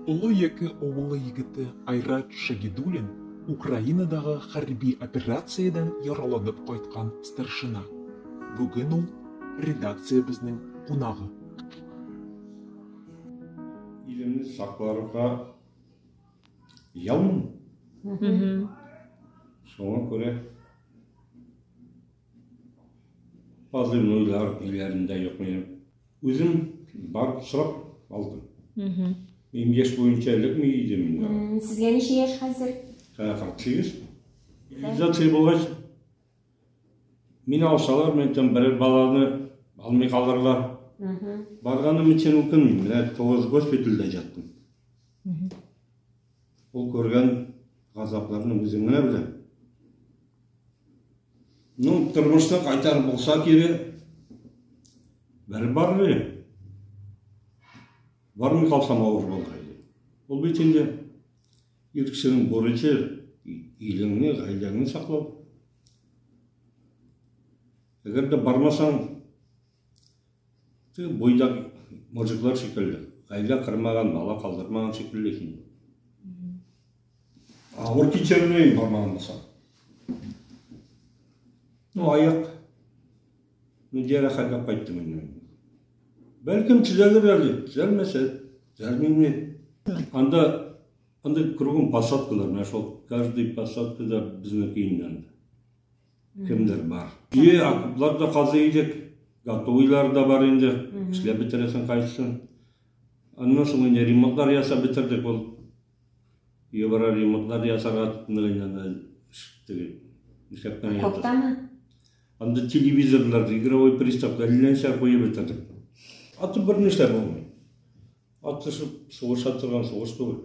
Олы Яке авылы егете Айрат Шагидулин Украинадағы хәрби операциядән яраланып кайткан старшина. Бүген ул редакциябезнең кунагы. Илемне сакларга ялмын. Шуңа күрә Азыр нуйлар биләрендә юк минем. Үзем барып сорап алдым. Мм. Мин яшь буенча эләкми идем инде. Сезгә ничә яшь хәзер? Ә, 48. Изоляция булгач, мин алсалар, мен там бер баланы алмый калырлар. Барганым өчен үкенмим. Менә 9 госпитальдә яттым. Ул күргән газапларны үзең генә белә. Ну, тормышта кайтар булса кире, бәреп барыр иде. Бармый калсам авыр булыр иде. Ул бит инде ир кешенең бурычы илеңне, гаиләңне саклау. Әгәр дә бармасаң, Ты бойдак мужиклар шикелле. Гаилә кырмаган, бала калдырмаган шикелле син. Авыр кичермей бармаган булсаң. Ну, аяк. Ну, диара хәлгә кайттым инде. Бәлкем төзәлер әле, төзәлмәсә, төзәлмиме? Анда анда кругом посадкалар, менә шул каждый посадкада безнеке инде. кемдер бар. Ие, окоплар да казый идек, готовыйлар да бар инде, эшләп бетерәсең кайсысын. Аннан соң инде ремонтлар ясап бетердек ул. Ебара ремонтлар ясарга тотынды инде анда теге ишәктән ятып. Коптамы? Анда телевизорлар, игровой приставка, әлләнчә куеп бетердек. Аты бер нәрсә булмый. Атышып сугыша торган сугыш түгел.